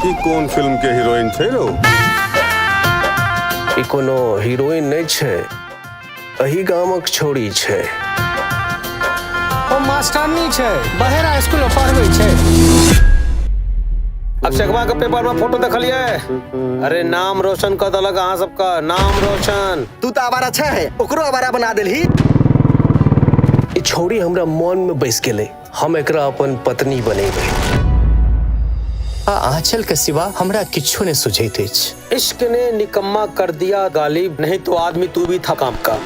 ई कोन फिल्म के हीरोइन छै रौ ई कोनो हीरोइन नहि छै एही गामक छोरी छै ओ मास्टरनी छै बहेरा स्कूल में पढ़बै छै अक्षकवा के पेपर में फोटो देखलिए अरे नाम रोशन कर देलक अहाँ सबका नाम रोशन तू तो आवारा अच्छा है ओकरो आवारा बना देलही ई छौरी हमरा मन में बैस गेलै हम एकरा अपन पत्नी बनेबै आ आंचल के सिवा हमरा किछो ने सुझैत अछि इश्क ने निकम्मा कर दिया गालिब नहीं तो आदमी तू भी था काम का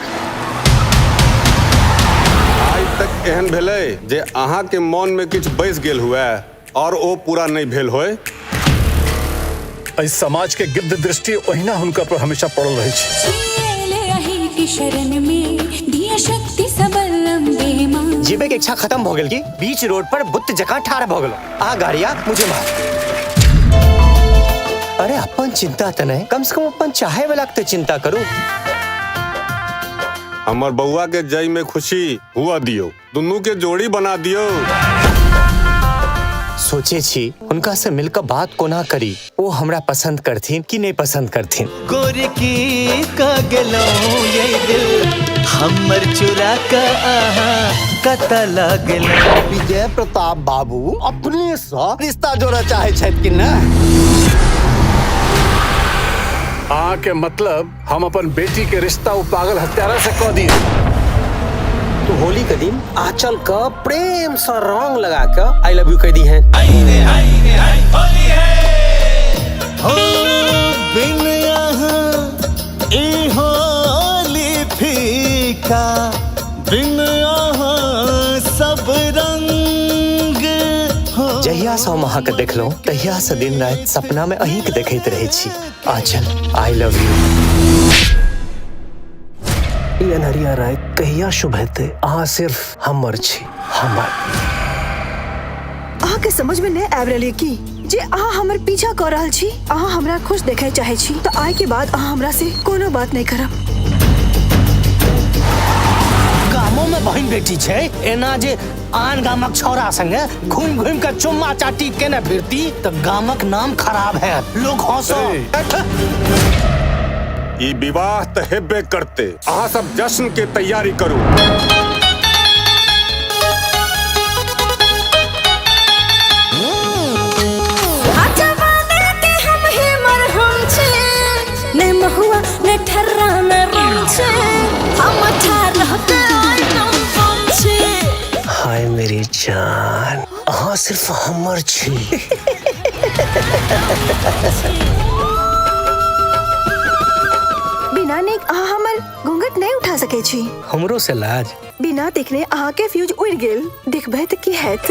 आइ तक एहन भेलै जे अहाँके मोनमे किछु बैस गेल हुए आओर ओ पूरा नहि भेल होय एहि समाज के गिद्ध दृष्टि ओहिना हुनका पर हमेशा पड़ल रहै छै सुनिएले अही के शरण में दिया शक्ति सबल लंबे माँ जीवे के इच्छा खत्म भ गेल की बीच रोड पर बुत्त जका ठार भ गेलो आ गाड़िया मुझे मार अरे अपन चिंता त नहीं कम से कम अपन चाहे वाला के तो चिंता करू हमर बउआ के जय में खुशी हुआ दियो दुनू के जोड़ी बना दियो सोचे छी उनका से मिलकर बात कोना करी वो हमरा पसंद करथिन कि नहीं पसंद करथिन गोरी की का गलो ये दिल हमर चुरा का आहा कता लागल विजय प्रताप बाबू अपने से रिश्ता जोड़ा चाहे छथि कि ना अहाँ के मतलब हम अपन बेटी के रिश्ता उ पागल हत्यारा से कह दी तू होली के दिन आंचल क प्रेम से रंग लगा के आई लव यू कह दी है हो बिन यहाँ ई होली फीका बिन यहाँ सब रंग हो जहिया से हम अहाँ के देखलहुँ तहिया से दिन रात सपना में अहीं के देखैत रहै छी आंचल आई लव यू ई अनहरिया राय कहिया शुभ हेतै अहाँ सिर्फ हमर छी हमर अहाँके समझ में नहीं आबि रहल ये की जे अहाँ हमर पीछा कर रहल छी अहाँ हमरा खुश देखे चाहे छी तो आय के बाद अहाँ हमरा से कोनो बात नहीं करब गामो में बहन बेटी छै एना जे आन गामक छौरा संगे घूम घूम के चुम्मा चाटी केने फिरती त गामक नाम खराब है लोग हंसो ई विवाह त हेबे करते अहाँ सब जश्न के तैयारी करू ने महुआ ने ठर्रा ने रंग छे हम अठारह के आइटम बम छे हाय मेरी जान अहाँ सिर्फ हमर छी बिना नेक अहाँ हमर घूंघट नहीं उठा सके छी हमरो से लाज बिना देखने अहाँ के फ्यूज उड़ गेल देखबे त की हैत